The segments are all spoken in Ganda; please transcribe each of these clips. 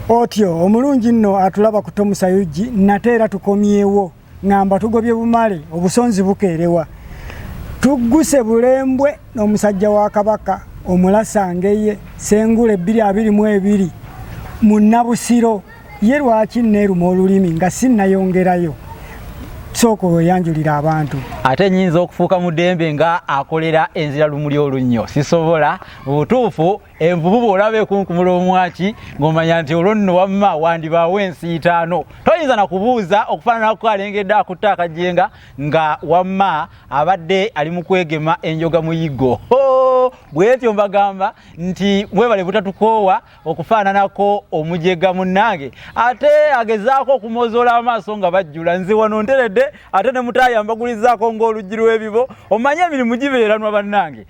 otyo omulungi nno atulaba ku tomusayugi nate era tukomyewo ngamba tugobye bumale obusonzi bukeerewa tugguse bulembwe n'omusajja wa kabaka omulasangeye sengule ebbiri abiri mu ebiri mu nnabusiro ye lwaki neeruma olulimi nga sinnayongerayo sooka oyanjulira abantu ate nyinza okufuuka mu dembe nga akolera enzira lumuli olunnyo sisobola butuufu envubu bw'olaba ekunkumula omwaki ng'omanya nti olwo nno wamma wandibaawo ensi itaano toyinza na kubuuza okufaananako alengedde akutte akajenga nga wamma abadde ali mu kwegema enjoga muyiggo bwetyo mbagamba nti mwebale butatukoowa okufaananako omujega munnange ate agezaako okumozoola amaaso nga bajjula nze wano nteredde ate ne mutaayambagulizaako ng'oluggi lw'ebibo omanye emirimu gibeeranwa bannange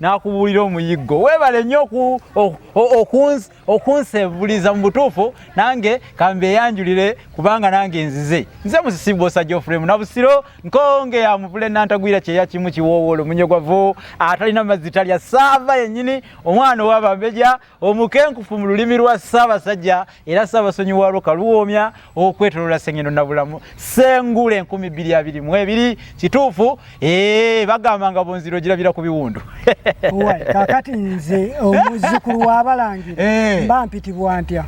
n'akubuulira omuyiggo weebale nnyo okunsebuliza mu butuufu nange kambe eyanjulire kubanga nange nzize nze musisi bwosa geofrem nabusiro nkonge ya muvule nantagwira kyeya kimu kiwoowoolo munyogovu atalina mazzi talya saava yennyini omwana owabambeja omukenkufu mu lulimi lwa ssaabasajja era ssaabasonyi waalwo kaluwoomya okwetolola sengendo nabulamu sengula enkumi bbiri abiri mu ebiri kituufu ee bagamba nga bunziro girabira ku biwundu kakati nze omuzukulu wabalangira eh. mba mpitibwa ntya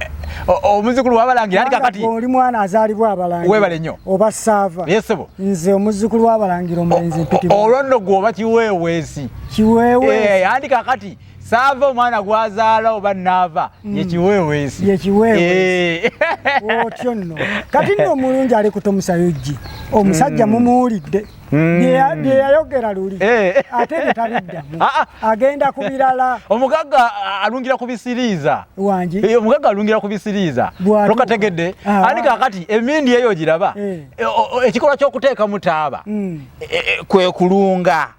omuzukulu wabalangira ati kakati oli mwana azaalibwa abalangira webale nnyo oba saava yesebo nze omuzukulu wabalangira omulenzi mpitibwa olwo nno gwoba kiweeweesi kiweeweesi eh, andi kakati saava omwana gwazaala oba naava mm. yekiweweesi yekiweweesi eh. otyo nno kati nno omulungi ali kutomusayojji omusajja mm. mumuwulidde mm. byeyayogera luli eh. ate byetabiddamu ah, ah. agenda ku birala omugagga alungira ku bisiriiza wangi eh, omugagga alungira ku bisiriiza lokategedde ah. ani kakati emindi eyo giraba ekikolwa ky'okuteekamu taaba kwe kulunga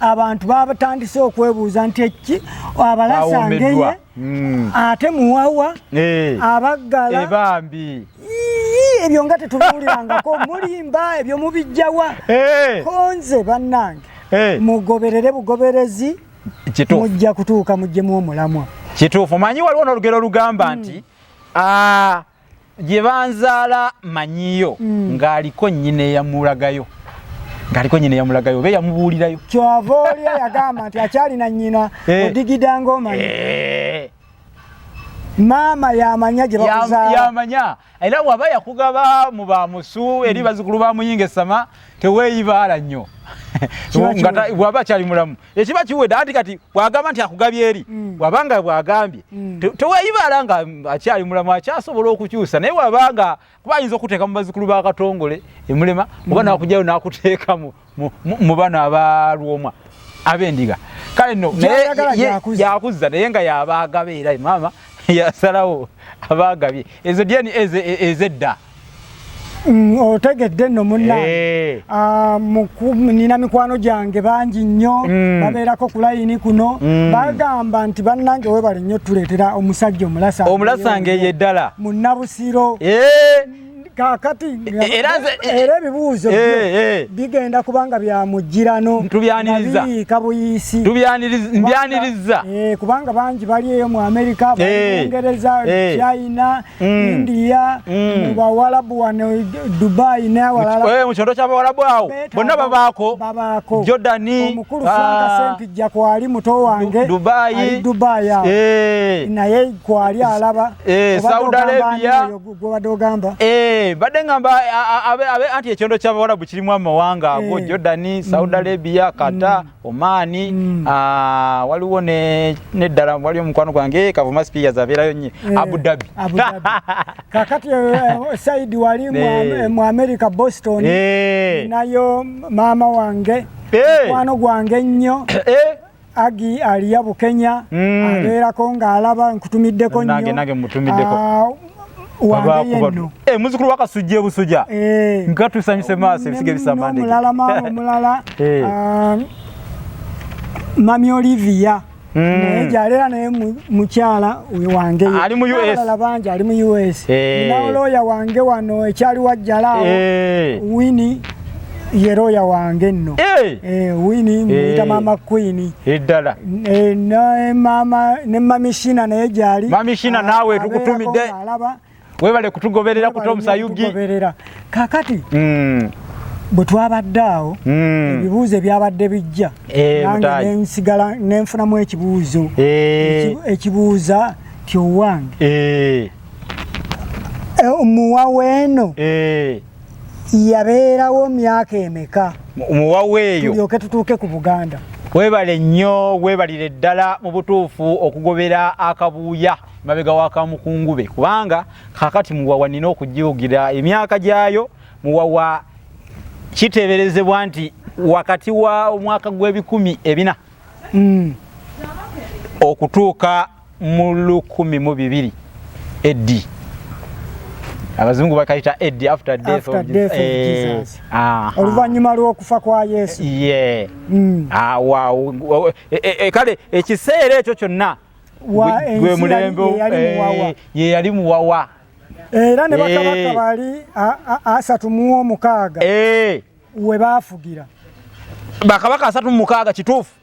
abantu babatandise okwebuuza nti ekki abalasangeye hmm. ate muwawa eh. abaggala eh, bambi ebyo nga tetubuulirangako mulimba ebyo mubijjawa eh. konze bannange mugoberere bugoberezi mujja kutuuka mujjemu omulamwa kituufu manyi waliwo n'olugero olugamba hmm. nti ah, gye banzaala manyiyo mm. ng'aliko nnyina eyamulagayo ng'aliko nnyina eyamulagayo oba eyamubuulirayo kyova oli eyagamba nti akyalina nnyina eh. odigida ng'omanyi eh. maama yamanya gye bakuzaalayamanya era waba yakugaba mu ba musu eri mm. bazukulu ba muyinga esama teweeyibaala nnyo waba akyali mulamu ekiba kiwedde anti kati bwagamba nti akugabye eri mm. wabanga bwagambye mm. teweyibala nga akyali mulamu akyasobola okukyusa naye wabanga kuba ayinza okuteeka mu bazikulu ba katongole emulema mm. oba nakujayo nakuteeka mu bano abalwomwa abendiga kale no yakuzza naye nga yabaagabe era maama yasalawo abaagabye ezo dyeni ezedda Mm, otegedde nno munnange eh. ah, nina mikwano gyange bangi nnyo mm. babeerako ku layini kuno mm. bagamba nti bannange webale nnyo tuleetera omusajja omulasa omulasa ngeeyo eddala munnabusiro eh. kakati eh, era ebibuuzo bigenda kubanga bya mujjirano nabiyiika buyisi mbyaniriza kubanga bangi bali eyo mu amerika bungereza china mm. India mm. mu bawalabu wano Dubai n'awalala eh, mu kyondo ky'abawalabu awo bonna babaako babaako Jordani omukulu ah. Frank Sempijja kwali muto wange Dubai ali Dubai awo eh. naye kwali alaba eh, Saudi Arabia gwabadde ogamba eh, badde ngamba abe anti ekyondo ky'abawalabu kirimu amawanga ago Jordani Saudi mm. Arabia Qatar mm. omaani mm. ah, waliwo neddala wali omukwano gwange eh, kavuma speakers abeerayo nye eh, abudabi kakati eh, saidi wali mu america boston nayo maama wange mukwano gwange nnyo agi aliya bukenya mm. abeerako ng'alaba nkutumiddeko nnyo Eh, muzukulu wakasujja ebusuja eh. nga tusanyuse maaso ebisiga ebisamandemulala maama omulala eh. um, mami olivia hmm. naye gyalera naye mukyala wange alala bangi ali mu us naolooya wange wano ekyali wajjala awo wini ye looya wange nno eh! Eh, wini muyita eh. maama kwini eddala ne mamishina naye gyali mamishina naawe tukutumidde alaba webale kutugoberera kuta omusayugi kakati hmm. bwe twabadde awo hmm. ebibuuzo ebyabadde bijja nange nensigala nenfunamu ekibuuzo ekibuuza tyowange muwaweeno yabeerawo myaka emeka muwaweeyo tulyoke tutuuke ku buganda webale nnyo webalire ddala mu butuufu okugobera akabuuya mabega wakamukungube kubanga kakati muwawa nina okujiugira emyaka gyayo muwawa kiteberezebwa nti wakati wa omwaka gw'ebikumi ebina mm. okutuuka mu lukumi mu bibiri eddi abazungu bakayita eddi after death of Jesus eh, ah, ah. oluvannyuma lw'okufa kwa yesu ye hmm. ah, eh, eh, kale ekiseera ekyo kyonna gwe mulembe ye yali muwawa era ne bakabaka bali asatu mu omukaaga we baafugira bakabaka asatu mu mukaaga kituufu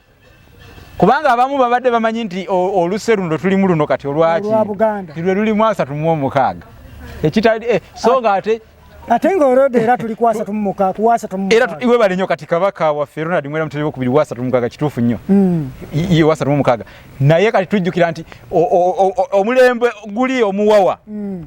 kubanga abamu babadde bamanyi nti oluse luno tulimu luno kati olwaki lwe lulimu asatu mu omukaaga ekitali eh, so nga ate ate nga olode era tuli kwasa tumuka kuwasa tumuka era iwe bali nyo kati kabaka wa ferona dimwera mutebe kubiri wasa tumuka ga kitufu nyo mm. iye wasa tumuka ga naye kati tujukira nti omulembe guli omuwawa mm.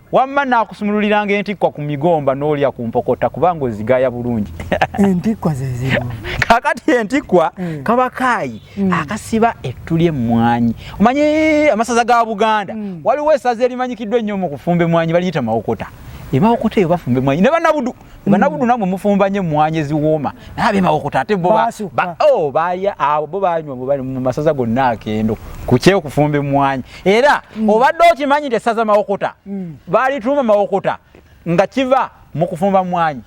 wamma naakusumululiranga entikkwa ku migomba n'olya ku mpokota kubanga ozigaya bulungi entikkwa zezimu kakati entikkwa mm. kaba kaayi mm. akasiba ettu ly'emmwanyi omanyi amasaza ga buganda mm. waliwo esaza erimanyikiddwa ennyo mu kufumba emmwanyi baliyita mawokota emawokota eyo bafumba emmwanyi ne banabudu Mm. banabudu namwe mufumba nye mwanye ziwoma nabe mawokota ate bo ba oh baya abo bo banywa bo bali mu masaza gonna akendo kucheo kufumbe mwanye era mm. obadde okimanyi te saza mawokota mm. bali tuma mawokota nga kiva mu kufumba mwanye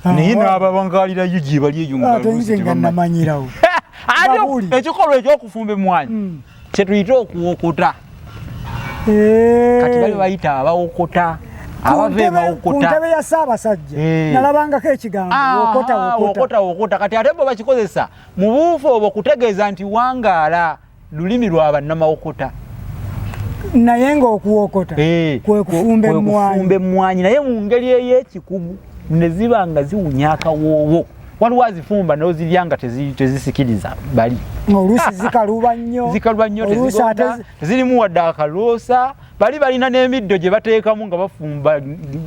ah, naye n'ababangalira yo gye bali eyo nga ah, manyirawo ekikolo ekyokufumba emwanyi mm. kyetuyita okuwokota eh. kati bali bayita abawokota kuntebe ya ssaabasajja eh. nalabangako ekigambo ah, wokota wokota kati ate bo bakikozesa mu buufu obwo kutegeeza nti wangaala lulimi lwa bannamawokota naye ngaokuwokota eh, kwekufumba emmwanyi naye mu ngeri ey'ekikugu ne ziba nga ziwunya akawoowo waliwo azifumba nozirya nga tezisikiriza bali oluusi zikaluba nnyo zikaluba nnyo tezirimu wadde akaloosa bali balina n'emiddo gye bateekamu nga bafumba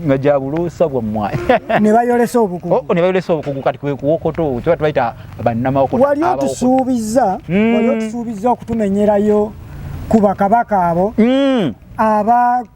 nga gya buloosa bwammwayi ne bayolesa obukugu oh, ne bayolesa obukugu kati kwe kuwokoto kyoba tubayita bannamawokoto wali otusuubizza hmm. wali otusuubizza okutumenyerayo ku bakabaka abo hmm. aba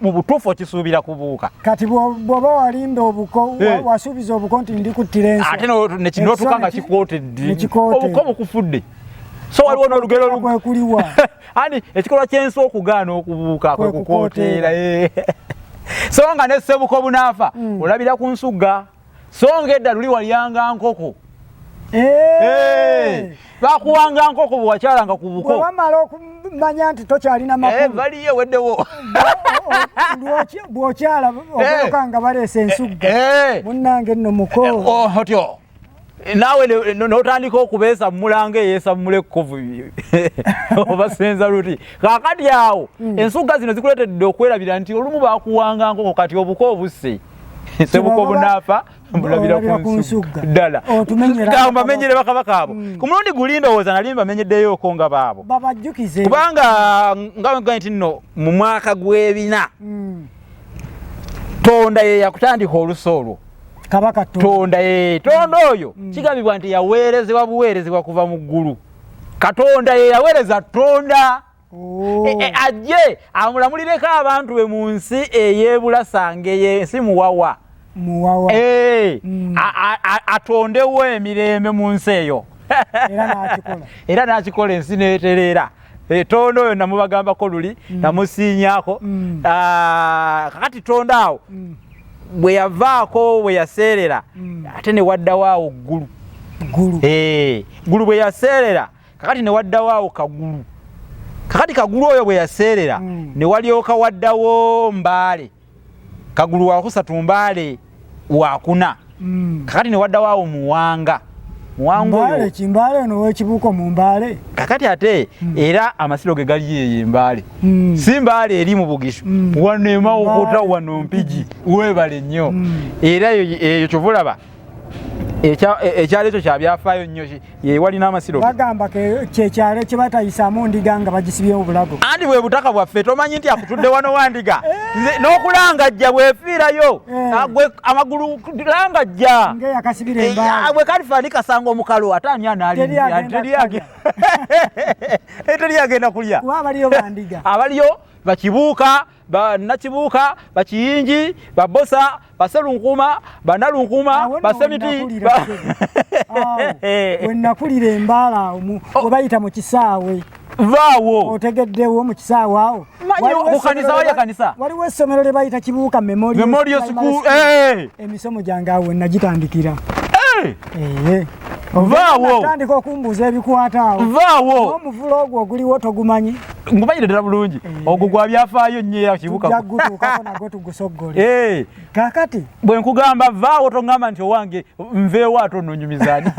mu butuufu okisuubira kubuuka kati bwoba walinda obuko eh. wasuubiza obuko nti ndikuttira ensi ate nekinotuka nga kikootedde obuko bukufudde so waliwo n'olugero lwekuliwa ani ekikolwa ky'ensi okugaana okubuuka kwe kukooteera eh. so nga ne ssebuko bunaafa hmm. olabira ku nsugga so nga edda luli walyanga nkoko eh. Eh. bakuwanga nkoko bwewakyalanga ku buko wamala okumanya nti tokyalina eh, makulubaliyo weddewo bwokyala okuloka nga baleesa ensugga munange nno muko oh, otyo naawe notandika okubeesa mumulanga eyeesa mumula ekkovu obasenza luti kakati awo hmm. ensugga zino zikuleetedde okwerabira nti olumu bakuwanga nkoko kati obuko obusse sebuka obunaafa mbulabira kunsugga ddala mbamenyere bakabaka abo mm. ku mulundi guli ndowooza nali mbamenyeddeyoko nga baabo kubanga nga nti nno mu mwaka gw'ebina mm. tonda ye yakutandika olusa olwo kabaka tonda ye tonda mm. oyo kigambibwa nti yaweerezebwa buweerezebwa kuva mu ggulu katonda ye yaweereza tonda Oh. E, e, ajje amulamulireko abantu be mu nsi eyebulasangeyo ensi muwawa muwawa e, mm. atondewo emirembe mu nsi eyo era n'akikola ensi n'etereera etondo oyo namubagambako luli mm. namusiinyako mm. ah, kakati tondo awo mm. bwe yavaako bwe yaseerera mm. ate ne waddawo awo ggulu ggulu eh, bwe yaseerera kakati ne waddawo awo kagulu kakati kagulu oyo bwe yaseerera hmm. ne walyoka waddawo mbaale kagulu wakusatu mbaale wakuna hmm. kakati ne waddawo awo muwanga kimbaale ono wekibuuko mu mbaale kakati ate hmm. era amasiro ge gali yeyo embaale hmm. si mbaale eri mu bugisho hmm. wano emawokuta wano mpigi webale nnyo era eyo kyova olaba ekyalo ekyo kyabyafaayo nnyo yewalina amasiro bagamba kyekyalo kyebatayisaamu ndiga nga bagisibyewo bulago anti bwe butaka bwaffe tomanyi nti akutudde wano wandiga eh. n'okulangajja bwefiirayo eh. gwe amagulu langajja eh, ah, bwe kalifaani kasanga omukalu ate ani anaaliteriyagenda kulya abaliyo bakibuuka banakibuuka bakiyingi babosa baselunkuma banalunkuuma basemiti wenakulira embaala awo oh. webayita mu kisaawe vaawo otegeddewo mu kisaawe awo mukanisa waja kanisa waliwo essomero lye bayita kibuuka memorial school eh. emisomo gyange awo wenagitandikira eh. eh. vaawo tandika okumbuuza ebikwata awo vaawo omuvula ogwo oguliwo togumanyi ngubayire ddala bulungi eh. ogwo gwa byafaayo nnyo era kibukagutuukako nagwo tugusoggole eh. kakati bwe nkugamba vaawo tongamba nti owange nveewo ate ononyumizaani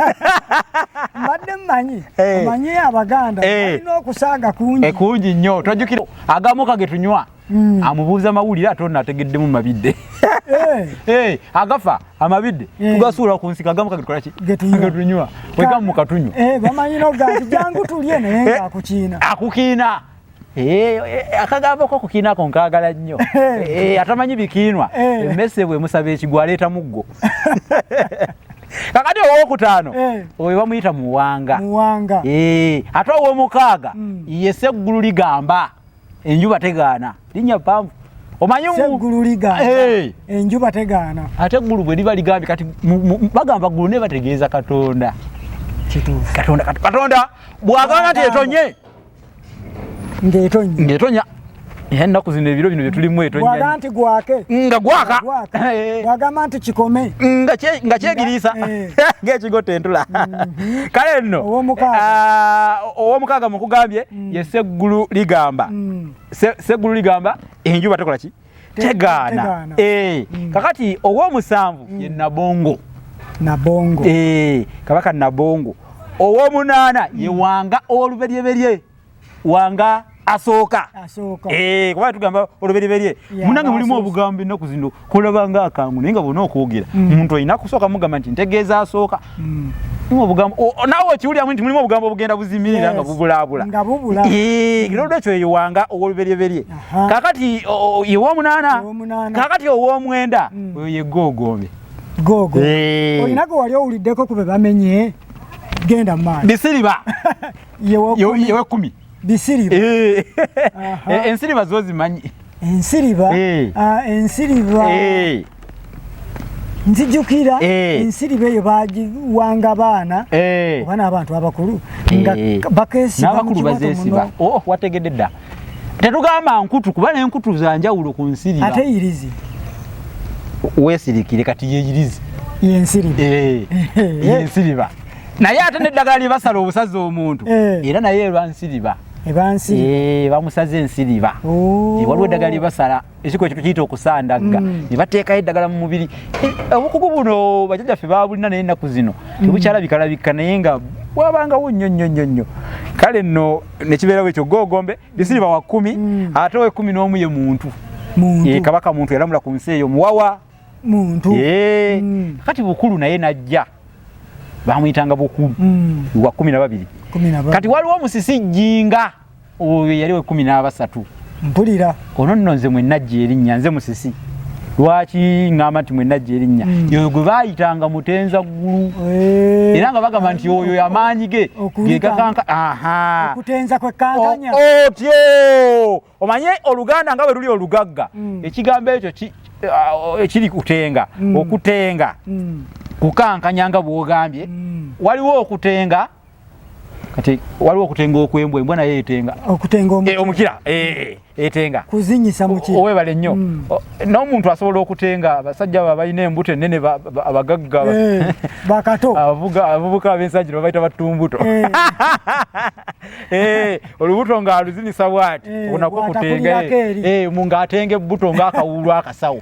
mbadde mmanyi eh. omanyi abaganda alina okusaaga kungi kungi nnyo tojjukira agamu kage tunywa mm. amubuuza mawulire ate ono ategeddemu mabidde hey. Eh. hey, eh, agafa amabidde hey. Eh. tugasuula ku nsika agamu kagetukolaki getunywa wegamu mukatunywa hey, bamanyi noganti jangu tulye naye nga akukiina akukiina akagambako okukiina ako nkaagala nnyo atamanyi bikiinwa emmese bwe musaba ekigwa aleeta muggo kakati owokutaano eh. oyo bamuyita muwanga ate owomukaaga mm. ye seggulu ligamba enjuba tegaana linnya pamvu omanyieggulu ligaana eh. enjuba tegaana ate eggulu bwe liba ligambye kati bagamba ggulu naye bategeeza katonda katonda katonda bwagamba nti etonye ng'etonya ng'etonya era ennaku zino ebiro bino bye tulimu etonyaga nti gwake nga gwaka eh. bwagamba nti kikome nga kyegiriisa eh. ng'ekigo tentula mm-hmm. kale nno ow'omukaaga ah, mukugambye mm. ye seggulu ligamba mm. seggulu ligamba enjuba tekola ki tegaana eh, mm. kakati owomusanvu ye nabongo nabongo eh, kabaka nabongo owomunaana ye wanga oluberyeberye wanga asooka eh, kuba tugamba oluberyeberye munange mulimu obugambo ennaku zino kulaba nga akangu naye nga bona okwogera mm. omuntu alina kusooka mugamba nti ntegeeza asooka mm. nawe okiwuliramu nti mulimu obugambo obugenda buzimirira nga bubulaabula olwekyo yewanga owoluberyeberye kakati yewomunaana kakati owomwenda mm. oyo yegogombe gogo olina gwe wali owuliddeko kube bamenye genda mu maaso bisiriba yewe kumi bisiriba eh. eh, ensiriba zo zimanyi ensiriba eh. ah, ensiriba nzijukira ensiriba eyo bagiwanga abaana oba n'abantu abakulu nga bakesibaabakulu bazesiba oh, wategedde dda tetugamba nkutu kuba nenkutu zanjawulo ku nsiriba ate irizi wesirikire kati yeyirizi yensiriba naye ate neddagala lyebasala obusaza omuntu eh. era naye elwansiriba eh, bamusaza ensiriba oh. waliwo eddagala lyebasala ekiko ekintu kiyita okusandagga mm. nebateekayo eddagala mu mubiri eh, obukugu buno bajajaffe babulina naye ennaku zino mm. tebukyalabikalabika naye nga bwabangawo nnyo nnyo nnyo nnyo kale nno nekibeerawo ekyo gogombe lisiriba wa kkumi mm. ate owekumi n'omu ye muntu kabaka muntu yalamula ku nsi eyo muwawa muntu kati bukulu naye najja bamuyitanga bukulu mm. wa kumi na babiri kati waliwo omusisi jinga oyo yali we kumi n'abasatu mpulira ono nno nze mwenajja erinnya nze musisi lwaki ŋŋamba nti mwenajja erinnya mm. yoyo gwe baayitanga mutenza ggulu eh. era nga bagamba nti oyo amaanyi ge gegakanka aha okutenza kwekkankanya otyo omanye oluganda nga bwe luli olugagga mm. ekigambo ekyo eh, kiri kutenga mm. okutenga mm. kukankanya nga bwogambye waliwo okutenga kati waliwo okutenga okwembwa embwa naye etenga eh, omukira eh, etenga kuzinyisa mukira owebale nnyo n'omuntu asobola okutenga abasajja abo abalina embuto ennene abagagga bakato abavubuka ab'ensajiro babaita battumbuto Eh, olubuto nga aluzinisa bwati eh, onako kutenga eh, mu nga atenge buto nga akawulu akasawo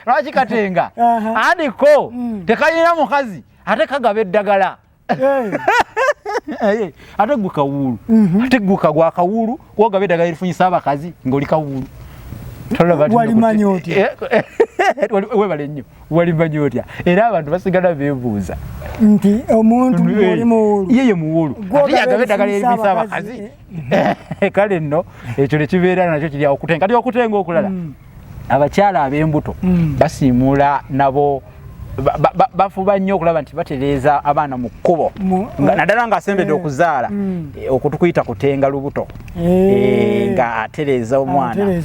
lwaki katenga andi ko mm. tekayina mukazi ate kagaba eddagala ate gwe kawulu mhm. ate gwe kagwa kawulu Kuoga beda gari funyi saba kazi ngoli kawulu. Tola bati. Wali manyoti. Eh, eh, eh, wali we bale nyo. Wali manyoti. Era abantu basigala bebuza. Nti omuntu ngoli muwulu. Yeye muwulu. Kuoga beda gari funyi saba kazi. Kale no. Echo le chivera na cho chili okutenga. Kati okutenga okulala. Mm. abakyala ab'embuto mm. basiimuula nabo bafuba nnyo okulaba nti batereeza abaana mu kkubo eh, naddala ng'asembedde eh, okuzaala mm. eh, okutukuyita kutenga lubuto ng'atereeza omwana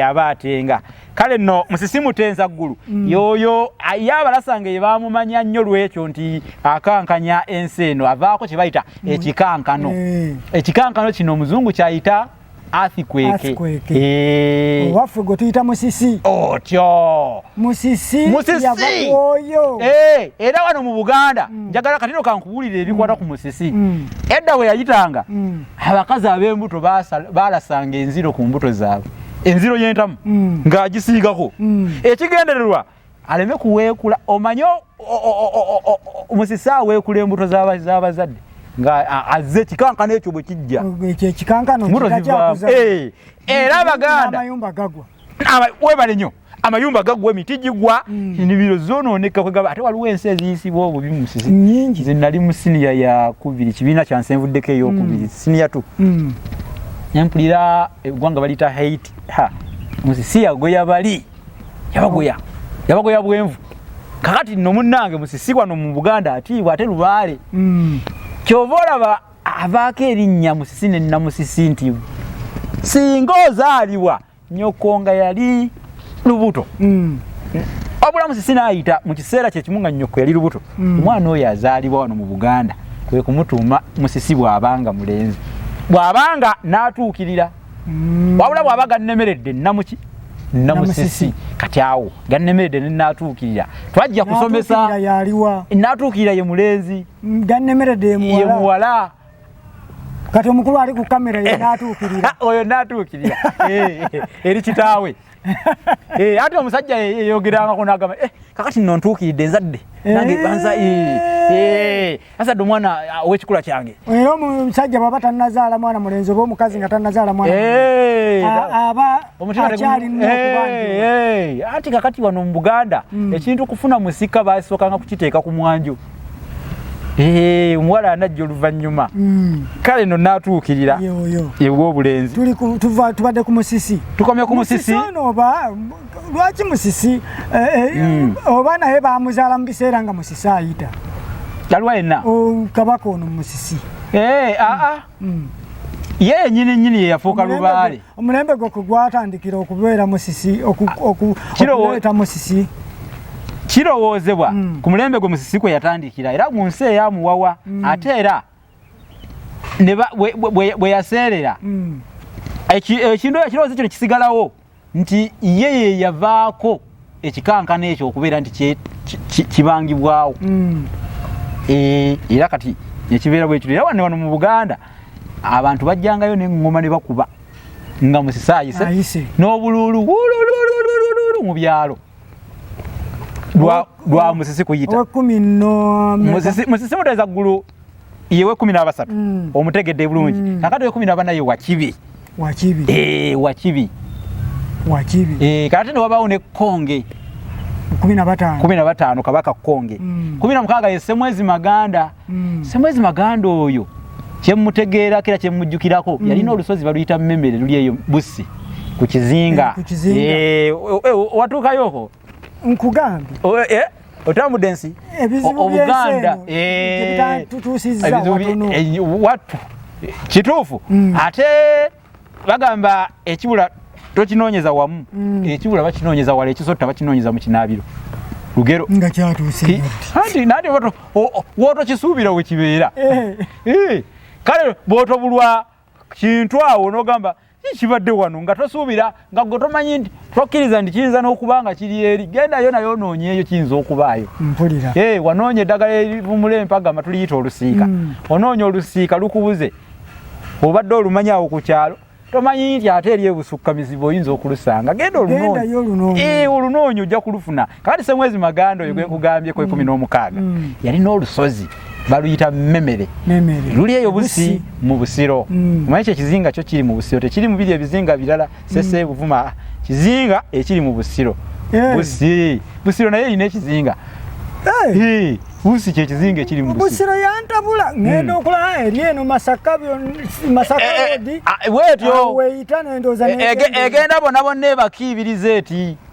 aba atenga kale nno musisimuta enzaggulu mm. yooyo ye abalasanga ebaamumanya nnyo lwekyo nti akankanya ensi eno avaako kye bayita ekikankano ekikankano kino omuzungu kyayita athikweke eh. owaffe gwe tuyita musisi otyo musisi yavakuoyo eh, era wano mu buganda mm. njagala katino kankuwulira ebikwata ku musisi mm. edda we yayitanga mm. abakazi ab'embuto balasanga enziro ku mbuto zaabwe enziro y'entamu ng'agisiigako ekigendererwa aleme kuweekula omanye musisi aweekula embuto z'abazadde nga azze ekikankano ekyo bwe kijja eh, era abaganda webale nyo amayumba gagwa emiti gigwa mm. enimiro zonooneka kwegaba ate waliwo ensi eziyisibwa obubi musizi nyingi ze nali mu siniya yakubiri kibiina kyansenvuddeko eyokubiri mm. siniya tu mm. nempulira eggwanga baliyita haiti ha musisiya gwe yabali yabagoya yabagoya bwenvu kakati no munnange musisi wano mu buganda atiibwa ate lubaale mm. kyova olaba avaako erinnya musisi ne namusisi nti singa ozaalibwa nyoko nga yali lubuto mm. wabula musisi naayita mu kiseera kyekimu nga nyoko yali lubuto mm. omwana oyo azaalibwa wano mu buganda kwe kumutuuma musisi bw'abanga mulenzi bw'abanga n'atuukirira mm. wabula bwaba gannemeredde nnamuki namusisi kati awo gannemeredde nenatuukirira twajja kusomesa natuukirira ye mulenzi mm, gannemeredde ye muwala kati omukulu ali ku kamera ye natuukirira oyo natuukirira eh, eh, eri kitaawe Eh, ate omusajja yeyogerangako nagamba eh, kakati no ntuukiridde nzadde eh. nange banza asadde omwana ah, owekikula kyange era omusajja bwaba tanazaala mwana mulenzi oba omukazi nga tanazaala mwanaaba akyalinaanti kakati wano mu buganda hmm. ekintu kufuna musika basookanga kukiteeka ku mwanju Eh, omuwala anajja oluvannyuma hmm. kale no natuukirira ew'obulenzi tubadde ku musisi tukomye ku musisi oba lwaki musisi eh, eh, hmm. oba naye bamuzaala mu biseera nga musisi ayita aliwa yenna oh, kabaka ono musisi aa ah, ah. hmm. ye yenyini nyini yeyafuuka lubaale omulembe gwe kwe gwatandikira okubeera musisi okuleeta musisi kirowoozebwa mm. ku mulembe gwe musisi kwe yatandikira era mu nsi eyamuwawa mm. ate era bwe yaseerera mm. ekintu ekirowoozo kino kisigalawo nti ye ye yavaako ekikankana ekyo okubeera nti kibangibwawo mm. eh, era kati nekibeera bwekiro era wane wano mu buganda abantu bajjangayo neŋŋoma ne bakuba nga musisaayise n'obuluulu mu byalo lwa musisi kuyita musisi muteeza ggulu yewe kumi n'abasatu mm. omutegedde bulungi mm. kakati wekumi nabanaye wakibi wakibi eh, wakibi wakibi eh, kakati newabawo ne konge kumi na bataano kabaka konge mm. kumi na mukaaga ye semwezi maganda mm. semwezi maganda oyo kyemutegeerako era kyemujjukirako mm. yalina olusozi baluyita mumemere luli eyo bussi ku kizinga eh, eh, watuukayoko nkugambye oh, eh, otambudde ensi obuganda eh, eh, wattu kituufu mm. ate bagamba ekibula tokinoonyeza wamu mm. ekibula bakinoonyeza wala ekisotta bakinoonyeza mu kinaabiro lugero nga kyatuuse anti nati wotokisuubira wekibeera kale bwotobulwa kintu awo nogamba kibadde wano nga tosuubira nga gwe tomanyi nti tokkiriza nti kiyinza n'okuba nga kiri eri gendayo naye onoonyeeyo kiyinza okubaayo mpulira ee wanoonya eddagala erivumula empagama tuliyita olusiika mm. onoonya olusiika lukubuze obadde olumanyi awo ku kyalo tomanyi nti ate eri ebusukka mizibu oyinza okulusanga genda olunoonyi olunoonyi ojja kulufuna kakati semwezi maganda oyo gwenkugambye ku ekumi mm. n'omukaaga mm. yalina olusozi baluyita memere luli eyo busi mu busiro mm. mwaye kye kizinga kyo kiri mu busiro tekiri mu biri ebizinga birala sese mm. buvuma kizinga ekiri mu busiro eh. busi busiro naye ine kizinga eh. busi kye kizinga ekiri mu busiro yantabula mm. ngenda okula eri eno masaka byo masaka eh, odi ah, wetyo weyita nendoza egenda bona bona ebakibiriza eti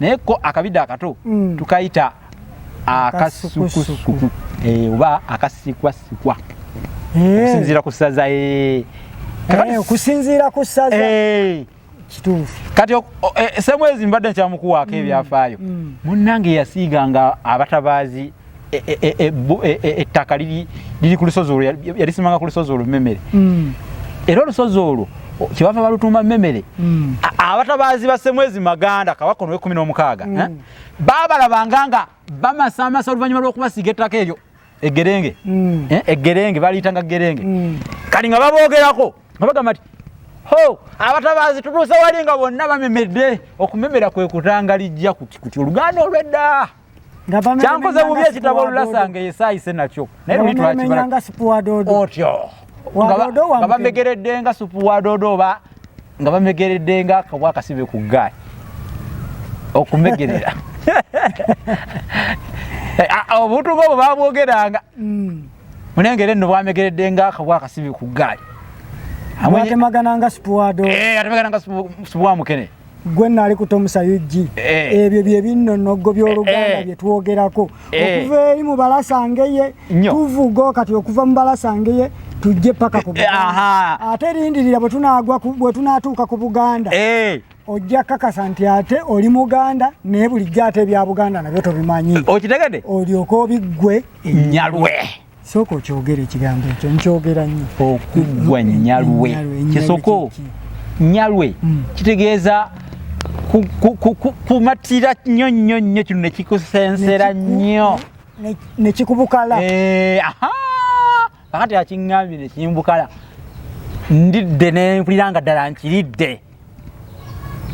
naye ko akabidde akato mm. tukayita akasukusuku eh, oba akasikwasikwa eh. okusinziira ku saza eh. okusinziira ku saza kituufu kati semwezi mbadde nkyamukuwaako mm. ebyafaayo mm. munnange yasiiga nga abatabaazi e, e, e, ettaka liri ku lusozi olwo yalisimanga ku lusozi olwo memere mm. era olusozi olwo kyebava balutuuma memere mm. abatabaazi basemwezi maganda kabaka ono wekumi n'omukaaga eh? mm. babalabanga nga bamasamasa oluvannyuma lw'okubasiiga ettaka eryo egerenge eh? egerenge baliyitanga gerenge kati nga baboogerako nga bagamba ti ho abatabaazi tutuuse wali nga bonna bamemedde okumemera kwe kutanga lijja kuti kuti oluganda olwedda kyankoze bubi ekitabo olulasanga eyesaayise nakyo naye luli twakibala otyo nga bamegeredde nga supu wa doodo oba nga bamegeredde nga kabwa akasibe ku ggaali okumegerera eh, ah, ah, obuntu ngaobwo babwogeranga hmm. munengere nno bwamegeredde nga akabwa akasibe ku ggaali atemagana nga supu wa doodo eh, atemagana nga supu wa mukene gwe nali kutomusa ug eh. ebyo byebinnonogo byoluganda eh, eh. byetwogerako okuva eri mubalasangeye tuvugo kati okuva mubalasangeye tujje paka ku ate lindirira bwetunatuuka ku buganda ojja kakasa nti ate oli muganda naye bulijjo ate ebya buganda nabyo tobimanyi okitegede olyoka obiggwe enyalwe sooka okyogere ekigambo ekyo nkyogera nnyo okuggwa nyalwe kisoko nyalwe mm. kitegeeza kumatira nnyo nnyo nnyo kino nekikusensera nnyo nekikubukala eh, kakati akiŋambye nekimbukala ndidde nempulira nga ddala nkiridde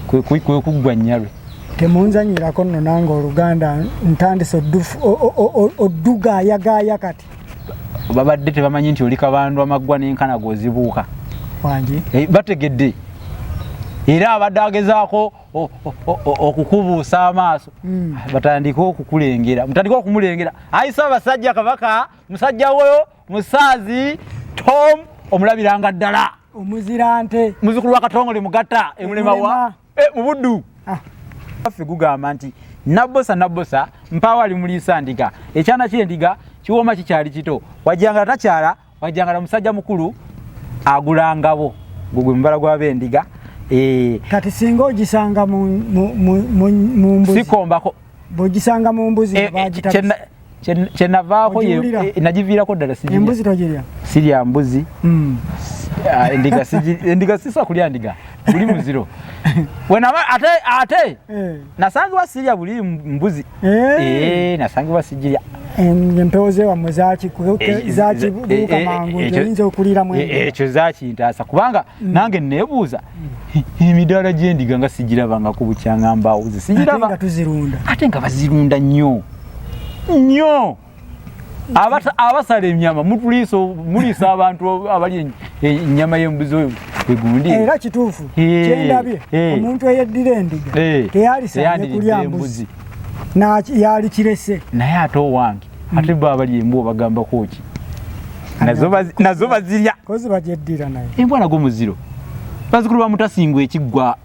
kwekuggwa nyalwe temunzanyirako nno nange oluganda ntandise odduga ayagaaya kati babadde tebamanyi nti oli kabandu amaggwa n'enkana gwozibuuka wangi eh, bategedde era abadde agezaako okukubuusa amaaso hmm. batandike okukulengera mutandike okumulengera ayisa abasajja kabaka musajja woyo musaazi tom omulabiranga ddala omuzira nte muzukulu wa katongole mugatta emulemaa eh, mu buddu ah. affe gugamba nti nabbosa nabbosa mpaawo ali muliisa ndiga ekyana kyendiga kiwooma kikyali kito wajjangala takyala wajjangala musajja mukulu agulangabo gugwe mubala gwabendiga eh. kati singa ogisanga mumbuzikombako bogisanga mumbuzi eh, kyenavaako eh, nagiviirako ddala embuzi togirya sirya mbuzi hmm. ah, endiga sisa kulya ndiga buli muziro wenaba ate ate eh. nasangibwa sirya buli mbuzi eh. nasangibwa sijirya empewo zewammwe zakibuuka mangu oyinza okulira mu ekyo zakintaasa kubanga hmm. nange nebuuza hmm. emidaala gyendiga nga sigirabangako bukyangambawuzi sigiraba ate nga bazirunda nnyo nyo abasala enyama mutuliisa muliisa abantu abali enyama yembuzi oyo egundi era kituufu kyendabye omuntu eyeddira endiga teyalisanye kulya mbuzi yali kirese naye ate owange hmm. ate bo abali embu obagambako ki nazo bazirya embwa nago muziro bazikulu bamutasingwa ekiggwa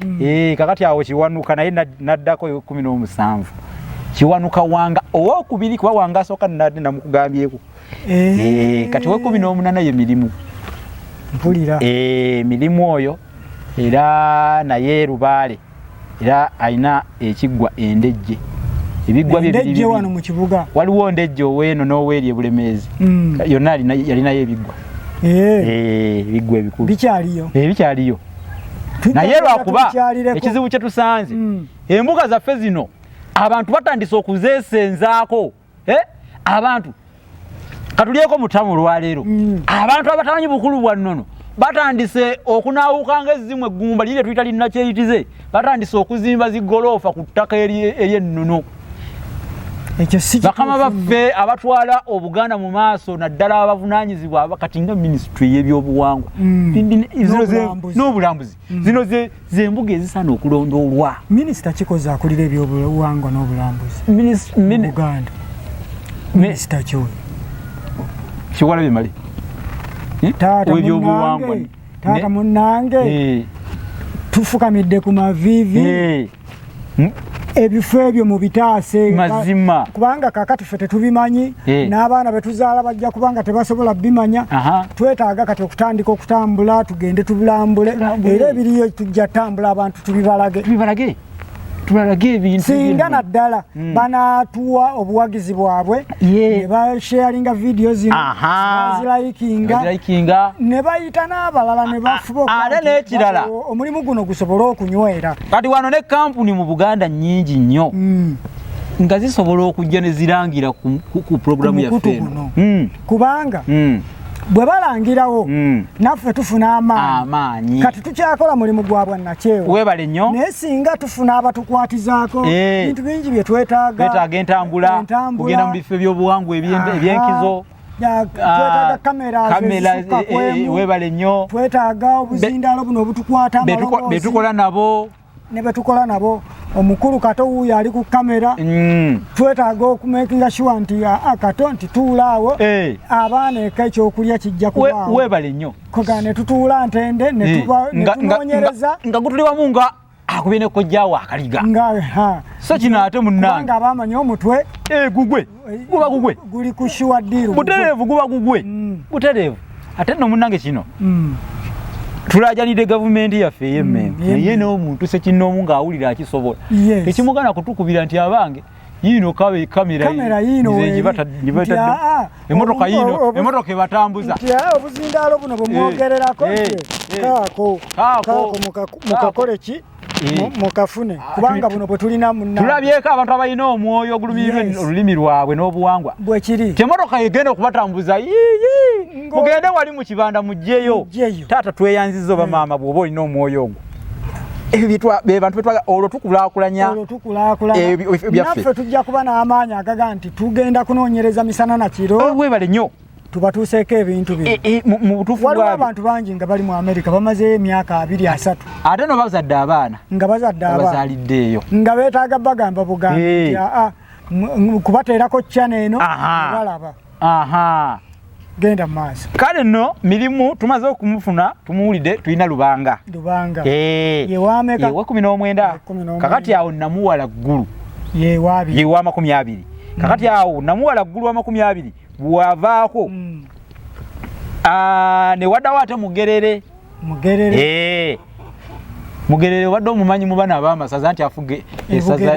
mm. e, kakati awo kiwanuka naye naddako ekumi n'omusanvu kiwanuka wanga owokubiri kuba wanga asooka nade namukugambyeko e, kati wekumi n'omunana ye mirimu mpulira e, mirimu oyo era naye lubaale era alina ekiggwa endejje ebiggwa byebiri wano mu kibuga waliwo ndejje oweeno n'oweeri ebulemeezi mm. yonna yalinayo ebiggwa ebiggwa ebikulu bikyaliyo naye lwakuba ekizibu kye tusanze mm. embuga zaffe zino abantu batandise okuzesenzaako eh? abantu katulyeko mutamu olwaleero mm. abantu abatamanyi bukulu bwa nnono batandise okunaawukanga ezzimu eggumba liri lyetuyita linnakyeyitize batandise okuzimba zigoloofa ku ttaka ery'ennono bakama baffe abatwala obuganda mu maaso naddala abavunanyizibwa kati nga minisitule yebyobuwangwa mm. n'obulambuzi mm. zino zembuga ezisaana okulondoolwa minisita kikoze akulira ebyobuwangwa n'obulambuzi uganda minisita kyoyo kiwala bimale eh? owebyobuwangwa taata munnange eh. tufukamidde ku maviivi eh. hmm? ebifo ebyo mu bitaase mazima kubanga kakati ffe tetubimanyi eh. n'abaana betuzaala bajja kubanga tebasobola bimanya twetaaga kati okutandika okutambula tugende tubulambule era ebiriyo tujja tambula abantu tubibalage tubalage ebintu singa naddala hmm. banatuwa obuwagizi bwabwe ne basharinga vidiyo zinozilaikinga ne bayita n'abalala ne bafubaate n'ekirala omulimu guno gusobole okunywera kati wano ne kampuni mu buganda nyingi nnyo hmm. nga zisobola okujja ne zirangira ku puroguramu yaffe hmm. kubanga bwe balangirawo hmm. naffe tufuna amaanyi kati tukyakola mulimu gwa bwannakyewa webale nnyo naye singa tufuna abatukwatizaako eh. bintu bingi bye twetaagaetaaga entambula kugenda mu bifo ebyobuwangwa ebyenkizo ah, eh, eh, webale nnyo twetaaga obuzindaalo buno obutukwata betukola nabo ne betukola nabo omukulu kato wuuyo ali ku kamera mm. twetaaga okumekinga shuwa nti ah, ah, kato nti tuulaawo hey. Eh. abaana eka ekyokulya kijja kubaawo webale nnyo koga ne tutuula ntende netunonyereza eh. nga gutuli wamu nga akubye ne kojjaawo akaliga so kino ate munnange abamanyi omutwe egugwe eh, guba gugwe guli ku sure deal buterevu guba gugwe mm. buterevu ate no munange kino mm. tulajanide government ya feye mm. me yeye no muntu se kino munga awulira akisobola yes. ekimugana kutukubira nti abange yino kawe kamera kamera yino nze njibata njibata ah, emotoka ah, yino emotoka ebatambuza ya obuzindalo buno bumwogererako eh, eh, eh. kako kako mukakole ki Eh. mukafune ah, kubanga buno bwe tulina munna tulabyeko abantu abalina omwoyo ogulumirwa olulimi lwabwe n'obuwangwa bwe kiri temotoka yegenda okubatambuza yiyi mugende wali mu kibanda mugyeyo taata tweyanziza oba hmm. maama bw'oba olina omwoyo ogwo bebantu betwaga olwo tukulakulanya naffe tujja kuba n'amaanyi agaga nti tugenda kunoonyereza misana na kiro oh, webale nnyo tubatuuseeko ebintu bino e, e, mu butuufu waliwo abantu bangi nga bali mu amerika bamazeeyo emyaka abiri asatu ate no bazadde abaana nga bazadde abazaliddeeyo nga beetaaga bagamba bugambi aa kubateerako chana eno balaba genda maaso kale no mirimu tumaze okumufuna tumuwulidde tulina lubanga lubanga eh. yewameka yewa kumi n'omwenda kakati awo namuwala ggulu yewamakumi abiri kakati awo namuwala ggulu wa makumi abiri bwavaako mm. ah, newadawo ate mugerere mugerere eh. mugerere obadde omumanyi mu bana abamasaza nti afuga esaza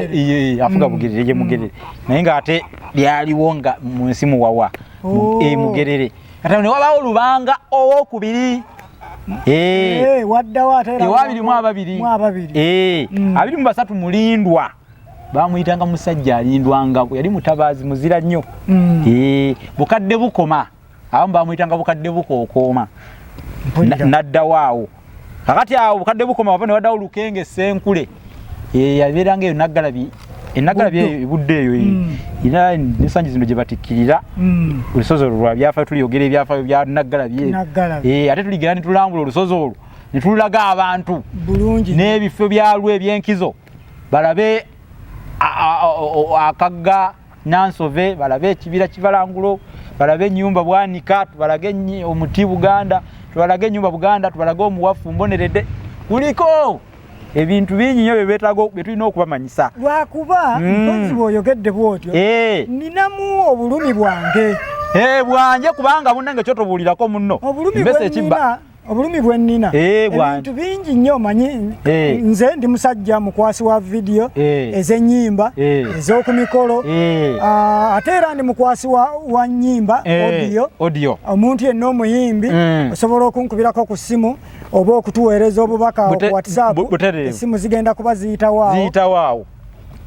afuga bugerere mm. gye mugerere mm. naye ng'ate lyaliwo nga mu nsi muwawa oh. e mugerere ate ne wabawo lubanga owokubiri ewabirimu eh. eh, ababiri mm. abiri mu basatu mulindwa bamuyitanga musajja alindwangako yali mutabaazi muzira nnyo mm. eh, bukadde bukoma abamu bamuyitanga bukadde bukookooma naddawo awo kakati awo bukadde bukoma waba newadawo lukenga esenkule eh, yabeeranga eyo naggalabi enaggalabi eh, eyo budde eyo mm. era nesangi zino gye batikkirira mm. olusozi olwo lwa byafayo tuliyogera ebyafayo bya naggalabi eyo ate tuligera netulambula olusozi olwo netulaga abantu n'ebifo byalwo ebyenkizo balabe akagga nansove balabe ekibira kivalangulo balabe enyumba bwanika tubalage omuti buganda tubalage enyumba buganda tubalage omuwafu mbonerede kuliko ebintu bingi nyo byebetaga byetulina okubamanyisa lwakuba mm. mpozi bwoyogedde bwotyo eh. ninamu obulumi bwange eh, bwanje kubanga bunange kyotobuulirako munno obulumi bwenina obulumi bwe nnina eh, ebintu bingi nnyo manyi eh. nze ndi musajja mukwasi wa vidiyo eh. ez'ennyimba ez'oku mikolo ah, ate era ndi mukwasi wa nnyimba odiyo omuntu yenna omuyimbi mm. osobola okunkubirako ku ssimu oba okutuweereza obubaka ku whatsapp essimu zigenda kuba ziyitawaawo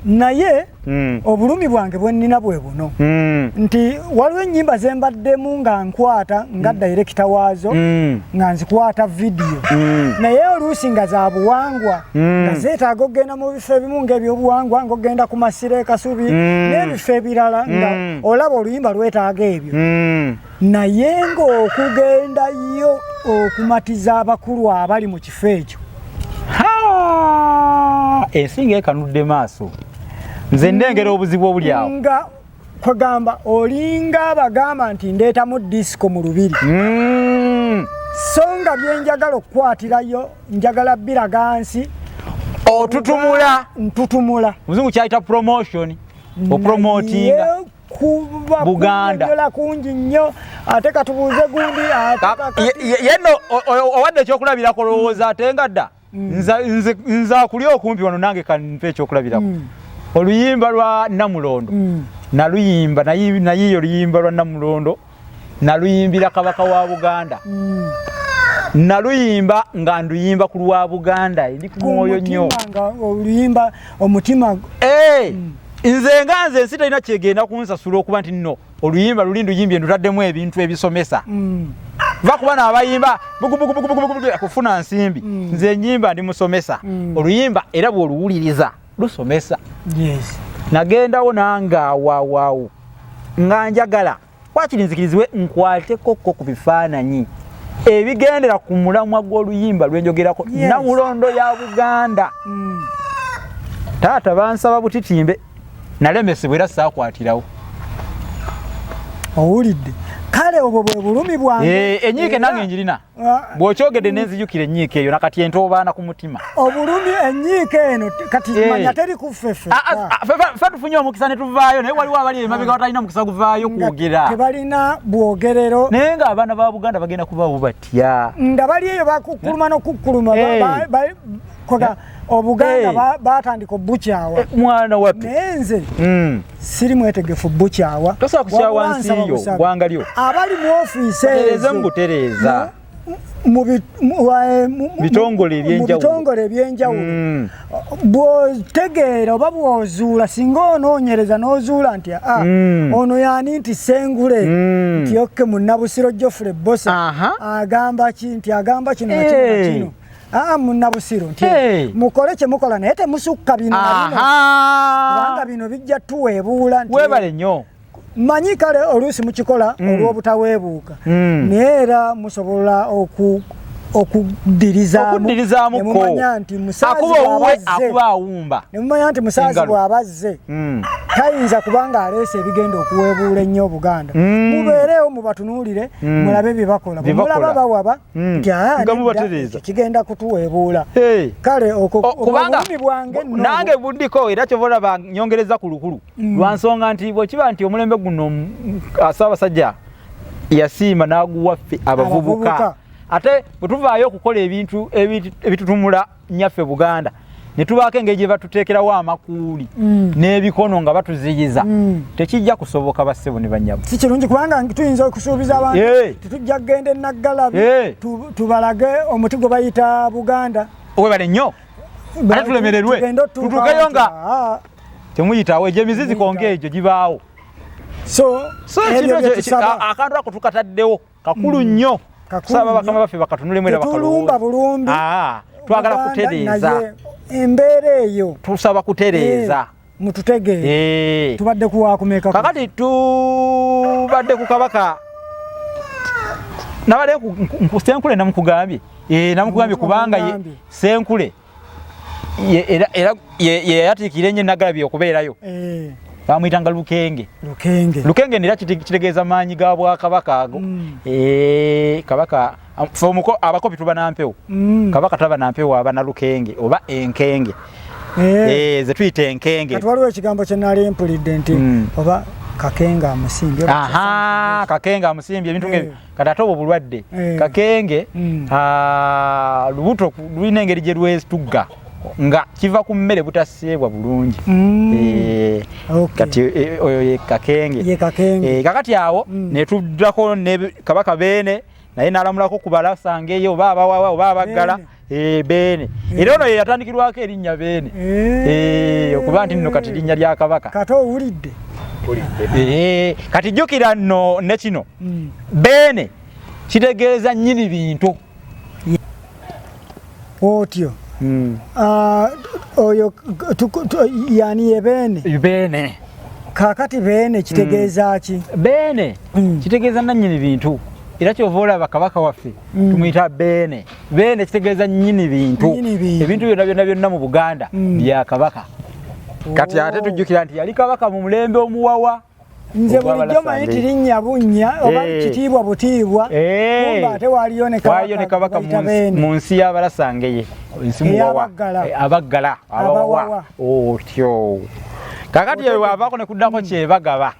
naye mm. obulumi bwange bwenina bwe buno mm. nti waliwo enyimba zembaddemu nga nkwata nga mm. direkita waazo mm. nga nzikwata vidiyo mm. naye oluusi nga za buwangwa mm. nga zeetaaga okugenda mu bifo ebimu ngaebyobuwangwa nga okugenda ku masiro ekasubi mm. n'ebifo ebirala nga mm. olaba oluyimba lwetaaga ebyo mm. naye ng'okugenda yo okumatiza abakulu abali mu kifo ekyo ensinga ekanudde maaso nze ndengera obuzibu obuli awo nga kwegamba olinga abagamba nti ndeetamu disiko mu lubiri hmm. so nga byenjagala okukwatirayo njagala biraga nsi otutumula ntutumula muzungu kyayita promotion opromotinga buganda yeno owadde ekyokulabirako olowooza ate nga dda mm. nze akuli okumpi wano nange kanmpa ekyokulabirako mm. oluyimba lwa namulondo mm. naluyimba nayiyo oluyimba lwa namulondo naluyimbira kabaka wa buganda mm. naluyimba nga nduyimba ku lwa buganda ndi ku mwoyo nnyo oluyimba omutima eh, mm. nze nga nze ensi talina kyegenda kunsasula okuba nti nno oluyimba luli nduyimbye ndutaddemu ebintu ebisomesa mm. va kuba nabayimba kufuna nsimbi mm. nze enyimba ndi musomesa oluyimba era bwoluwuliriza lusomesa yes. nagendawo nange awawaawo nga njagala wakiri nzikirizibwe nkwatekokko ku bifaananyi ebigendera ku mulamwa gw'oluyimba lwenjogerako yes. namulondo ya buganda mm. taata bansaba butitimbe nalemesebwa era saakwatirawo owulidde kale obwo bwe bulumi bwange eh, enyiike nange njirina bwokyogedde nenzijukira enyiika eyo nakati entoobaana ku mutima obulumi enyiika eno kati eh. manya teri kuffefe ah, ah, ah, fe tufunye omukisa netuvaayo naye waliwo abali emabega batalina mukisa guvaayo kwogera tebalina bwogerero naye nga abaana ba buganda bagenda kubawo batya nga bali eyo bakukkuluma eh. nokukkuluma eh. obuganda hey. Eh. batandika obukyawa eh, mwana wapi naye nze mm. siri mwetegefu bukyawa tosobola kukyawa nsi yo gwanga lyo abali mu ofiisi ezo mu butereeza mubitongole eh, ebyenjawulo mm. bwotegeera oba bwozuula singa onoonyereza n'ozuula nti a ah, mm. ono yani nti sengule mm. nti okke munabusiro jofre bosa agamba ki nti agamba kino nakino eh. Ah, munabusiru nti mukole kyemukola naye temusukka bino kubanga bino bijja tuweebuula nti webale nnyo manyi kale oluusi mukikola mm. olw'obutaweebuuka mm. naye era musobola oku okuddirizaamuokuddirizaamumumanya nti musaaziakubaawumbanemumanya nti musaazi bw'abazze mm. tayinza kuba ng'aleese ebigenda okuweebuula ennyo obuganda mubeereewo mubatunuulire mulabe bye bakola bwemulaba bawaba Hmm. nga mubatereeza kigenda kutuweebuula kale okobulumi bwange nange bundiko era kyova olaba nyongereza ku lukulu hmm. lwa nsonga nti bwekiba nti omulembe guno mm, ssaabasajja yasiima n'aguwaffe abavubuka ate bwe tuvaayo okukola ebintu ebitutumula nyaffe buganda netubaako engeri gye batuteekerawo amakuuli mm. n'ebikono nga batuziyiza mm. tekijja kusoboka bassebo ne banyabo si kirungi kubanga tuyinza okusuubiza abantu tetujja kugenda enaggalabi tubalage omuti gwe bayita buganda webale nnyo ate tulemererwe tutuukeyo nga ah. temuyitawo egyo emizizi konga egyo gibaawo so akantu ako tukataddewo kakulu mm. nnyo kusaba bakama baffe bakatunulemu era bakalumba bulumbi ah, twagala kutereeza embeera eyo tusaba kutereeza eh, mututegeere eh. tubadde kuwakumeka kakati tubadde ku kabaka nabadde senkule namukugambye eh, namukugambye kubanga senkule era era yeyatikira enye nagalabi okubeerayo eh. bamuyitanga lukenge lukenge lukenge nera kitegeeza maanyi ga bwakabaka ago mm. eh, kabaka fomuko abakopi tuba nampewo mm. kabaka taba nampewo aba na lukenge oba enkenge eh. eh, ze tuyita enkenge kati waliwo ekigambo kye nali mpulidde nti mm. oba kakenga amusimbye kakenga amusimbye ebintu ngebyo kati ate obwo bulwadde eh. kakenge hmm. ah, lubuto lulina engeri gye lwetugga nga kiva ku mmere butaseebwa bulungi hmm. eh, kati eh, oyo ye kakenge kakati awo hmm. netuddako ne kabaka beene naye nalamulako kubalasangeyo oba abawawa oba abaggala Eh, beene era ono yeyatandikirwako erinnya beene eh. Eh, okuba nti nno kati linnya lya kabaka kati owulidde kati jjukira nno ne kino hmm. beene kitegeeza nnyini bintu otyo hmm. ah, oyo yani yebeene beene kakati beene kitegeeza hmm. ki beene kitegeeza nannyini bintu era kyova olaba kabaka waffe tumuyita beene beene ekitegeeza nyini bintu ebintu byonna byonna byonna mu buganda mm. bya kabaka kati ate oh. tujjukira nti yali kabaka mu mulembe omuwawa nze bulijjo manyi tirinnya bunnya oba eh. kitiibwa butiibwa eh. kumba ate waaliyo ne kabaka mu nsi y'abalasangeye eyabaggala eh, abaggala abawawa otyo oh, kakati eyo wavaako ne kuddako kyebagaba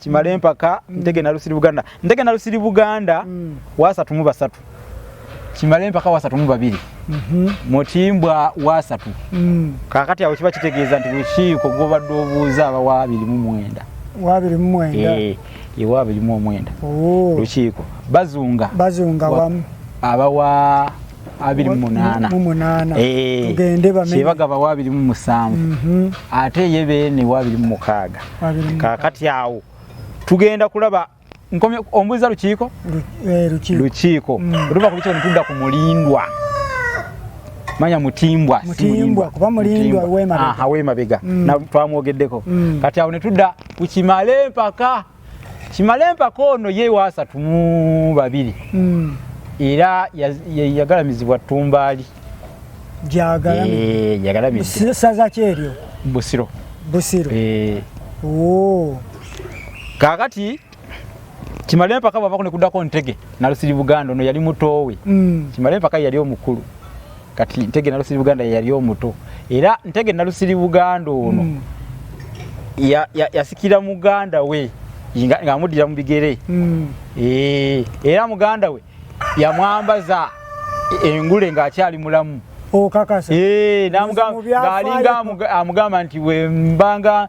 kimale mpaka mm. ntege nalusiri buganda ntege nalusiri buganda mm. wasatu mu basatu kimale mpaka wasatu mu babiri mm -hmm. mutimbwa wasatu mm. kakati awo kiba kitegeeza nti lukiiko gwobadde obuuza aba wabiri mu mwenda wabiri mu mwenda e, e wabiri mu omwenda oh. lukiiko bazunga bazunga wamu aba wa abiri mu munaana mu munaana Eh, tugende bamenye kyebaga bawa abiri mu musanvu Mhm. ate ye beene wa abiri mu mukaaga Abiri mu- kakati awo tugenda kulaba nkomye ombuuza lukiiko Lu- eh, lukiiko lukiiko Mm. luva ku lukiiko netudda ku mulindwa manya mutimbwa si Mutimbwa, kuba Mulindwa w'emabega. Aha, w'emabega Mm. Na- twamwogeddeko Mm. kati awo netudda ku kimale mpaka kimale mpaka ono ye waasatu mu babiri mm. era yagalamizibwa ttumbaali jagalamsaza eh, kyeryo busiro busiro eh. oh. kakati kimale mpaka bwavako nekuddako ntege nalusiri buganda ono yali mutoowe mm. kimale mpaka yali omukulu kati ntege nalusiri buganda yeyali omuto era ntege nalusiri buganda ono mm. yasikira ya, ya muganda we ng'amuddira mu bigere mm. e, era muganda we yamwambaza engule ng'akyali mulamu okakasa oh, eh, ng'alinga amugamba nti wembanga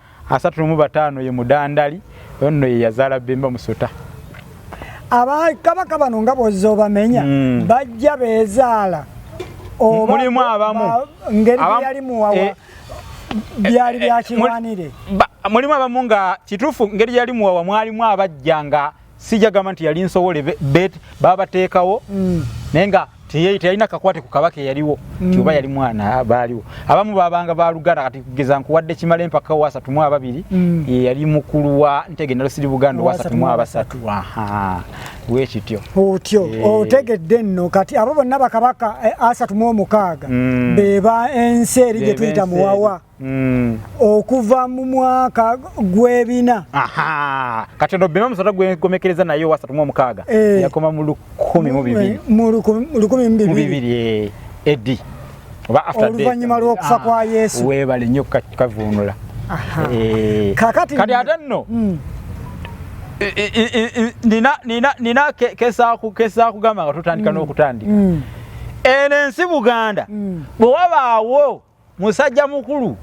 asatu nomu bataano ye mudandali onno ye yazaala bemba musota abakabaka bano nga bwozza obamenya mm. bajja bezaala mulimu abamu ngeri yali muwawa eh, byali eh, eh, byakirwanire mulimu abamu nga kituufu ngeri yali muwawa mwalimu abajja nga sijja gamba nti yali nsowole bet babateekawo mm. naye nga teyalina kakwate ku kabaka eyaliwo mm. nti oba yali mwana baaliwo abamu babanga baluganda kati kugeza nkuwadde kimala empaka wasatu mu ababiri mm. yeyali mukulu wa ntege nalosiri buganda wasatu mu abasatu wekityo otyo eh. otegedde nno kati abo bonna bakabaka eh, asatu mu omukaaga beba ensi eri gyetuyita muwawa Mm. okuva mu mwaka gwebina kati ono bima musota gwegomekereza naye wasatu mu omukaaga eh. yakoma mu lukumi mu bibiri mu lukumi mu bibiri eh. edi oba after death oluvannyuma lw'okufa kwa ah. yesu weebale nnyo kukavunula eh. kakati kati ate nno mm. nina kesaa kugamba nga tutandika mm. n'okutandika eno ensi buganda bwe wabaawo musajja mukulu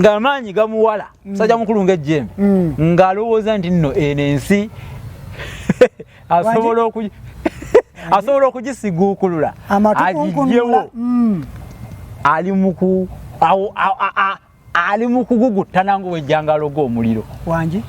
ng'amaanyi gamuwala mm. musajja mukulu ng'ejjembe mm. ng'alowooza nti nno eno ensi asobola oku asobola okugisiguukulula agijjewo mm. ali muku ali mu kuguguttana ng'owejjangaloga omuliro wangi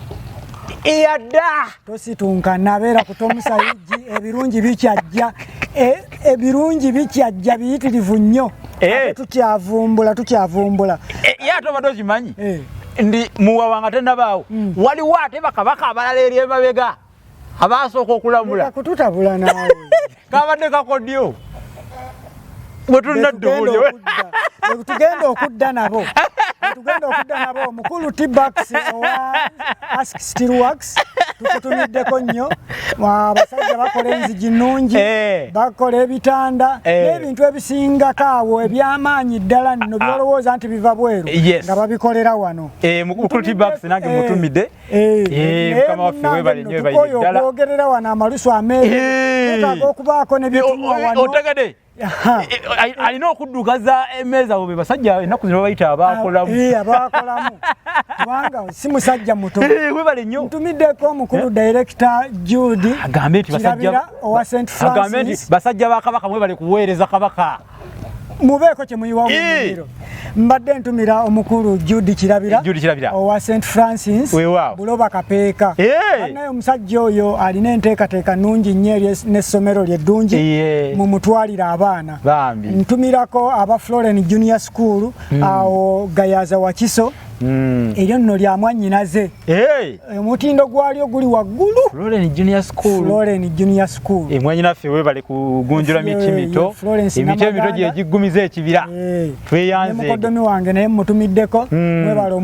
eyadda Tositunka nabeera ku tomusayiji ebirungi bikyajja e, ebirungi bikyajja biyitirivu nnyo eh. tukyavumbula tukyavumbula eh, ye ate obadde okimanyi eh. ndi muwawa nga tenabaawo hmm. waliwo ate bakabaka abalala eri emabega abaasooka okulamula kututabula naawe kabadde kakodyo wetugenda okudda nabo tugenda okudda nabo omukulu tbax owa ask still works tukutumiddeko nnyo abasajja bakola enzigi nnungi eh. bakola ebitanda eh. n'ebintu ebisingako awo ebyamaanyi ddala nno ah. byolowooza nti biva bweru nga babikolera wano eh, mukulu tbax nange mutumidde Eh, eh, eh, okwogerera wano amalusu ameetaaga okubaako nebituotegede alina okuddukaza emeeza bo be basajja ennaku zino babayita abaakolamu kubanga si musajja muto webale nnyo ntumiddeko omukulu direkita jude agambe nti basajja ba kabaka mwebale kuweereza kabaka mubeeko kye muyiwa mumiro mbadde ntumira omukulu Jude Kirabira owa St Francis Buloba Kapeeka naye omusajja oyo alina enteekateeka nnungi nnyo eri n'essomero lye ddungi mu mutwalira abaana ntumirako aba Floren Junior School hmm. awo Gayaza Wakiso hmm. eryo nno lya mwannyinaze omutindo hey. gwalyo guli waggulu Florence Junior School Florence Junior School e mwanyi naffe webale kugunjula miti mito emiti emito gyegiggumiza ekibira hey. tweyanze mukoddomi wange naye mmutumiddeko mm. mwebale